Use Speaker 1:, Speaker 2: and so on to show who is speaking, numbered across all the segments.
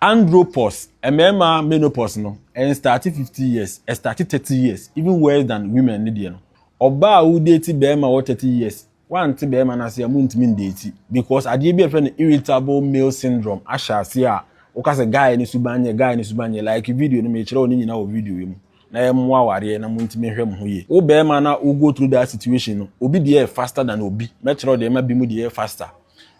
Speaker 1: Andropause, Mmarima menopause no ɛnstaate fifty years, ɛstaate thirty years, even worse than women no deɛ no. Ɔbaa a wodeeti barima wɔ thirty years, wante barima no ase a montumi ndeeti because adeɛ bi a yɛfrɛ no irritable male syndrome ahyɛ aseɛ a woka sɛ guy no suban nyɛ, guy no suban nyɛ, like video no mekyerɛ wo ne nyinaa wɔ video yi mu na ɛmmoa awareɛ na montumi nhwɛ mo ho yie. Wo barima no a wo go through that situation no, obi deɛ yɛ faster than obi, mɛkyerɛ wo deɛ ɛma binom deɛ yɛ faster.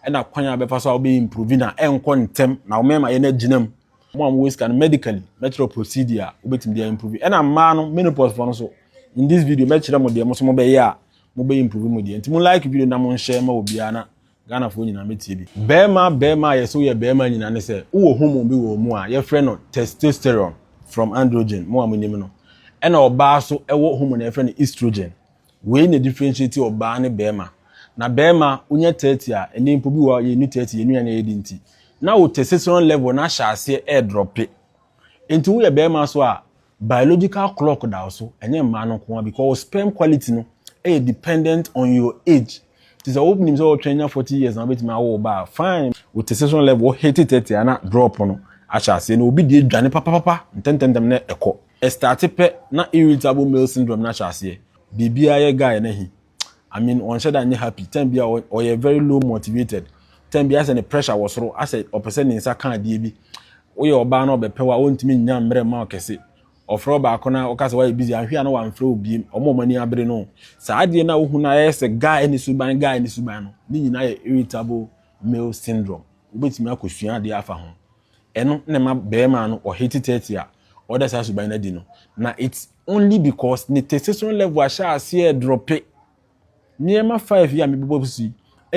Speaker 1: Ɛna kwan a bɛfa so a wobɛ improve na ɛnkɔ ntɛm na wɔn mmarima yɛ no agyina mu. Wɔn a wɔwɔ sika no medically mɛkyerɛ procedure a wobɛtumi de improve. Ɛna mmaa no menopause fɔ no so in this video mɛkyerɛ mo deɛ mo so mobɛyɛ a mobɛ improve mo deɛ. Nti mo like video na mo nhyɛ ma obiara na Ghana foɔ nyinaa mɛtie bi. Barima barima a yɛse woyɛ barima nyinaa ne sɛ wowɔ hormone bi wɔ wo mu a yɛfrɛ no testosterone from androgen mo a monim no. Ɛna ɔbaa so wɔ hormone a yɛfrɛ no estrogen. Wei na differentiate ɔbaa ne bɛɛma. Na bɛɛma wonya thirty a ɛnɛ mpo bi wɔ hɔ a yɛnnu thirty yɛn nnuane a yɛdi nti na wo testosterone level no ahyɛ aseɛ ɛɛdrɔpe. Nti woyɛ bɛɛma nso a biological clock da wo so ɛnyɛ mmaa no nko ara because wo sperm quality no ɛyɛ dependent on your age. Nti sɛ wonim sɛ wotwɛn nya forty years na wobɛtumi awo wo ba a fine. Wo testosterone level wo hit thirty a na drop no ahyɛ aseɛ na obi deɛ dwane papapapa ntɛntɛntɛm na ɛkɔ. Ɛstarte pɛ na irritable male syndrome no ahyɛ aseɛ, biribiara yɛ guy no ahi, I mean ɔnhyɛ da nyɛ happy, time biara ɔyɛ very low motivated, time biara ayɛ sɛ ne pressure wɔ soro, ayɛ sɛ ɔpɛ sɛ ne nsa ka adeɛ bi, woyɛ ɔbaa no a ɔbɛpɛ wo a ɔntumi nnya mmerɛ mma wo kɛse, ɔfrɛ wo baako no a woka sɛ woayɛ busy, anhwɛ a na wamfrɛ wo biem, wɔn a wɔn ani abere no o. Saa adeɛ no a wohu no a ɛyɛ sɛ guy ne suban guy ne suban no, ne nyinaa yɛ irritable male syndrome, wobɛtumi akɔsua adeɛ afa ho. Ɛno na ɛma barima no ɔ hate thirty a ɔda saa suban no adi no. Na it's only because ne testosterone level ahyɛ aseɛ drope. Nneɛma five yi a mebobɔ so yi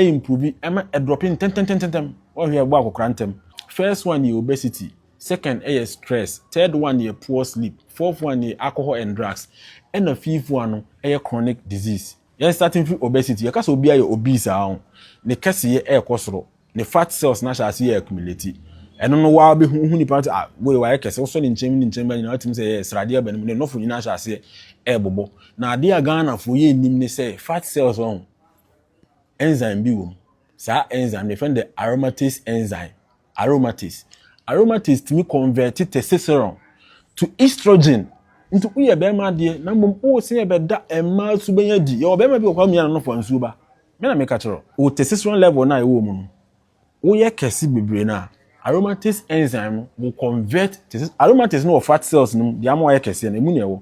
Speaker 1: improve ɛma ɛdrope ntɛntɛntɛntɛm. Wohwɛ a ɛbɔ akɔkora ntɛm. First one yɛ obesity, second yɛ stress, third one yɛ poor sleep, fourth one yɛ alcohol and drugs, ɛna fifth one no yɛ chronic disease. Yɛn starte mfiri obesity, yɛka sɛ obiara yɛ obese ara o, ne kɛseyɛ rekɔ soro. ne fat cells no ahyɛ ase yɛ accumulate. Ɛno no waa bɛhu, wohu nipa no sɛ ah wei wayɛ kɛse, wosɔ ne nkyɛn mu ne nkyɛn mu nyinaa wotumi sɛ yɛ sradeɛ aba ne mu, ne nɔfo nyinaa hyɛ aseɛ ɛɛbobɔ. Na adeɛ a Ghanafoɔ yɛ nnim ne sɛ fat cells wɔn ho enzyme bi wɔ mu. Saa enzyme no yɛfrɛ no the aromatase enzyme, aromatase. Aromatase tumi convert testosterone to estrogen nti woyɛ bɛrima adeɛ na mmom wose yɛbɛda mmaa su bɛnya di. Yɛwɔ bɛrima bi wɔ hɔ a ɔmia ne nɔfo a nsuo ba. Me na meka kyerɛ wo, wo testosterone level no a ɛwɔ wo mu no, woyɛ kɛse bebree no a, aromatase enzyme no will convert testosterone, aromatase no wɔ fat cells no mu, deɛ ama wɔayɛ kɛseɛ no, ɛmu na ɛwɔ.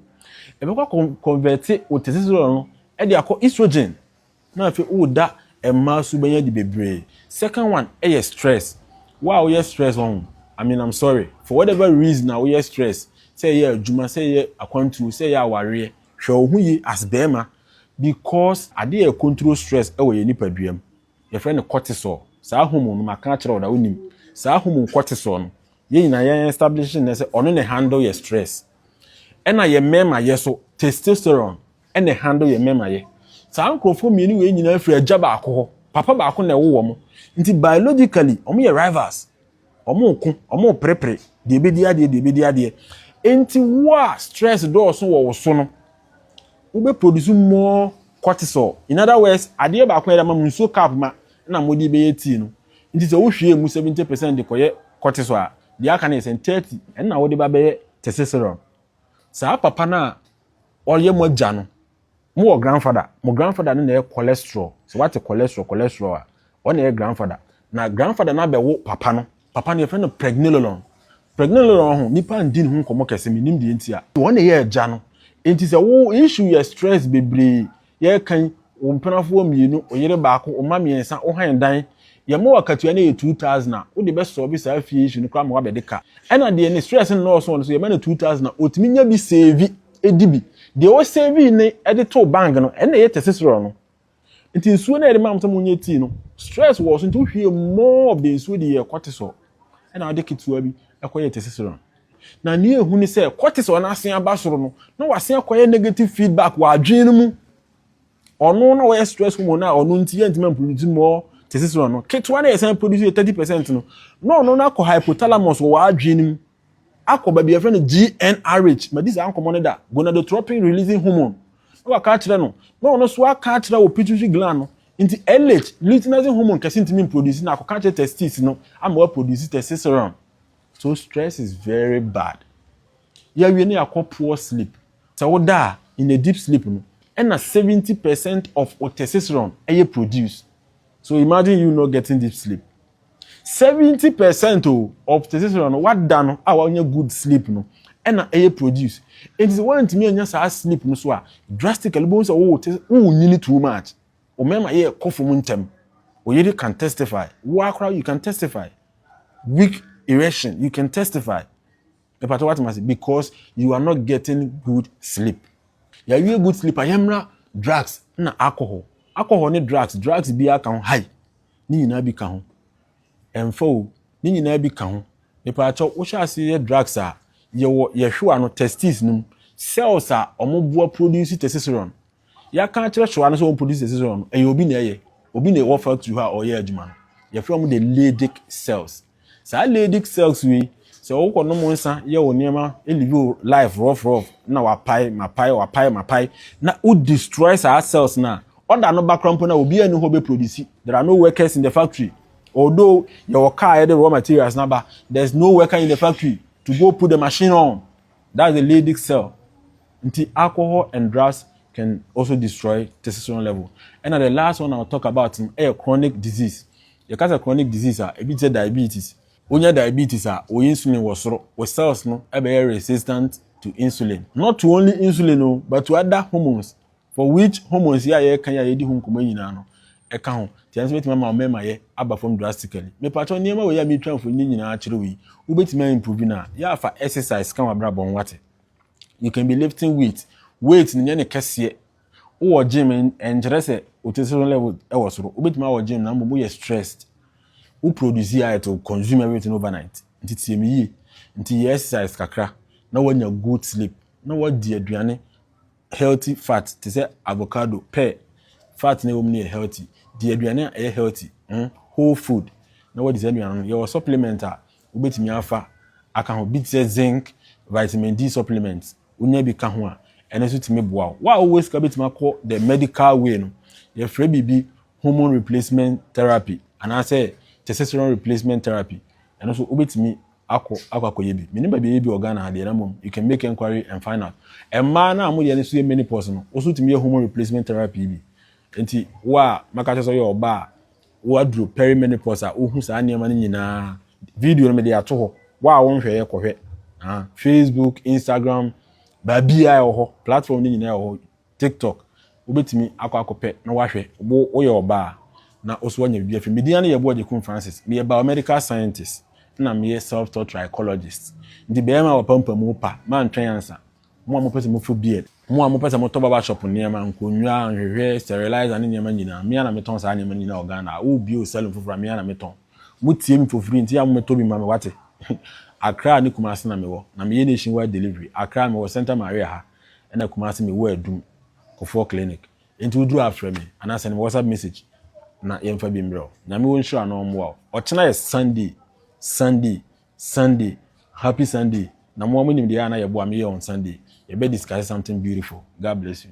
Speaker 1: Ɛbɛkɔ akɔ converte wo testosterone no de akɔ estrogen, na afei woda mmaa su bɛnya di bebree. Second one yɛ stress, wo a woyɛ stress wahu, I mean I'm sorry, for whatever reason a woyɛ stress, sɛ ɛyɛ adwuma, sɛ ɛyɛ akwantuo, sɛ ɛyɛ awareɛ, Hwɛ wo ho yie as barima because adeɛ yɛ control stress wɔ yɛn nipadua mu yɛfrɛ no cortisol saa hormone no maka akyerɛ wo da wonim saa hormone cortisol no yɛn nyinaa yɛ establish no nɛ sɛ ɔno na handle yɛ stress ɛna yɛ mmarima yɛ so testosterone ɛna handle yɛ mmarima yɛ saa nkorɔfoɔ mmienu wei nyinaa firi agya baako hɔ papa baako na ɛwo wɔn nti biologically wɔn yɛ rivals Wɔreko, wɔreperepere, deɛ ɛbɛdi adeɛ, deɛ ɛbɛdi adeɛ. Enti wo a stress dɔɔso wɔ wo so no, wobɛ produce more cortisol. In other words, adeɛ baako a ɛde ama mo nsuo cup ma na mode bɛyɛ tea no. Nti sɛ wohwie mu 70 percent de kɔyɛ cortisol a, deɛ aka no yɛ sɛn 30 ɛna wode ba bɛyɛ testosterone. Saa papa no a ɔyɛ mo agya no, Mo wɔ grandfather, mo grandfather no na ɛyɛ cholesterol. Sɛ wate cholesterol, cholesterol a, ɔna ɛyɛ grandfather. Na grandfather no abɛwo papa no. Papa no yɛfrɛ no pregnenolon. Pregnenolon ho, nnipa ndi ne ho nkɔmmɔ kɛse, mennim deɛ nti a. Ɔna ɛyɛ agya no. Enti sɛ wo issue yɛ stress bebree, yɛreka yi, wo mpenafoɔ mmienu, wo yere baako, wo mma mmiɛnsa, wo hann dan, yɛma wo akatua no yɛ two thousand a, wode bɛ solve saa fie issue no koraa ma woabɛde ka. Ɛna deɛ ne stress nnɔɔso wɔ no so, yɛma no two thousand a, ɔtumi nya bi save. di bi. Deɛ wɔsɛvii ne de too bank no, ɛna ɛyɛ testosterone no. Nti nsuo no a yɛde maa mo sɛ monyɛ tii no, stress wɔ so nti wohwie more of the nsuo de yɛ cortisol ɛna wode ketewa bi ɛkɔyɛ testosterone. Na nea ehu ne sɛ cortisol no asen aba soro no, na wasen akɔyɛ negative feedback wɔ adwene no mu. Ɔno na wɔyɛ stress hormone a ɔno nti yɛntumi mproduce more testosterone no. Ketewa na yɛsan produce 30% no, na ɔno no akɔ hypothalamus wɔ w'adwene no mu. akɔ baabi yɛfrɛ no GnRH, madi saa nkɔmmɔ no da, gonadotropin releasing hormone, na waka akyerɛ no, na ɔno nso aka akyerɛ wɔ pituitary gland no, nti LH, luteinizing hormone kɛse ntumi mproduce na akɔka akyerɛ testes no ama wɔaproduce testosterone. So stress is very bad. Yɛawie na yɛakɔ poor sleep. Sɛ woda a, in a deep sleep no, ɛna 70 percent of wo testosterone ɛyɛ produce. So imagine you not getting deep sleep. Seventy percent o of testosterone no wada no a wanya good sleep no ɛna ɛyɛ produce enti sɛ wantumi anya saa sleep no so a drastically wobɛhu sɛ wo te wonyini too much wo mɛma yɛ kɔ fam ntɛm oyere can testify woa koraa you can testify weak erection you can testify Mepakyɛ wate mase because you are not getting good sleep. Yɛawie good sleep a yɛmmra drugs na alcohol. Alcohol ne drugs, drugs bi aka ho high. Ne nyinaa bi ka ho. Ɛmfa o, ne nyinaa bi ka ho. Mepakyɛ wohyɛ ase yɛ drugs a yɛwɔ yɛhwewa no testes no mu cells a wɔn boa produce testosterone. Yɛaka akyerɛ hwewa no sɛ wɔn produce testosterone no ɛyɛ obi na ɛyɛ. Obi na ɛwɔ factory hɔ a ɔyɛ adwuma no. Yɛfrɛ wɔn the Leydig cells. Saa Leydig Cells wei, sɛ wokɔ nom nsa yɛ wo nneɛma live wo life rough rough na wapae, mapae, wapae, mapae na wo destroy saa cells no a, ɔda no ba koraa mpo no a obiara nni hɔ bɛ produce. There are no workers in the factory. Although yɛwɔ car yɛde raw materials no aba, there is no worker in the factory to go put the machine on. That's the Leydig cell. Nti alcohol and drugs can also destroy testosterone level. Ɛna the last one I'll talk about no ɛyɛ chronic disease. Yɛka sɛ chronic disease a, ebi te sɛ diabetes. Wonya diabetes a, wo insulin wɔ soro, wo cells no bɛyɛ resistant to insulin. Not to only insulin o, but to other hormones, for which hormones yi a yɛreka yi a yɛredi ho nkɔmmɔ yi nyinaa no, ɛka ho. Nti ɛno nso bɛtumi ama wo mmemayɛ aba fam drastically. Mepakyɛw, nneɛma wei a meretwa mfoni nyinaa akyerɛ wo yi, wobɛtumi a improve no a, yɛ a fa exercise ka w'abrabɔ ho, woate? You can be lifting weight, weight no nyɛ no kɛseɛ, Wowɔ gym ɛnkyerɛ sɛ wo testosterone level wɔ soro. Wobɛtumi awɔ gym na mmom woyɛ stressed. Wo produce a it will consume everything overnight. Nti tie me yie. Nti yɛ exercise kakra na woanya good sleep na woadi aduane healthy fat te sɛ avocado, pear, fat no a ɛwɔ mu no yɛ healthy. Di aduane a ɛyɛ healthy, whole food na woadi saa aduane no. Yɛwɔ supplement a wobɛtumi afa aka ho, bi te sɛ zinc, vitamin D supplement, wonya bi ka ho a, ɛno nso tumi boa wo. Wo a wowɔ sika bɛtumi akɔ the medical way no, yɛfrɛ biribi hormone replacement therapy anaasɛ testosterone replacement therapy, ɛno nso wobɛtumi akɔ akɔ akɔyɛ bi. Menim baabi a ɛyɛ bi wɔ Ghana ha deɛ na mmom you can make enquiry and find out. Mmaa no a moyɛ no so yɛ menopause no, wo nso wotumi yɛ hormone replacement therapy bi. Nti wo a mɛka kyerɛ sɛ woyɛ ɔbaa a, Woaduru perimenopause a wohu saa nneɛma no nyinaa. Video no mede ato hɔ. Wo a wonhwɛeɛ kɔhwɛ. Ah, Facebook, Instagram, baabiara ɛwɔ hɔ. Platform no nyinaa ɛwɔ hɔ. TikTok. Wobɛtumi akɔ akɔpɛ na woahwɛ. Wo woyɛ ɔbaa a, na wo so woanya biribi afiri. Me din ara ne yɛ Boagyekun Francis. Meyɛ biomedical scientist ɛna meyɛ self-taught trichologist. Nti bɛɛma a wɔpampam wo pa, mantwɛn ansa. Mo a mopɛ sɛ mofo beard, mo a mopɛ sɛ motɔ barber shop nneɛma, nkonnwa, nhwehwɛ, sterilizer ne nneɛma nyinaa, me ara na metɔn saa nneɛma no nyinaa wɔ Ghana. A oh bio saloon foforɔ a, me ara na metɔn. Motie me for free nti a mommɛtɔ bi mma me wate? Accra ne Kumasi na mewɔ, na meyɛ nationwide delivery. Accra mewɔ Santa Maria ha ɛna Kumasi mewɔ Adum, Kofour Clinic. Enti woduru a frɛ me anaa send me WhatsApp message na yɛmfa bi mmerɛ wo. Nyame wɔ nhyira na ɔmmoa wo. Ɔkyena yɛ Sunday, Sunday, Sunday, happy Sunday, na mo ara mo nim deɛ ɛyɛ a na yɛboa me yɛ on Sunday, yɛbɛ discuss something beautiful, God bless you.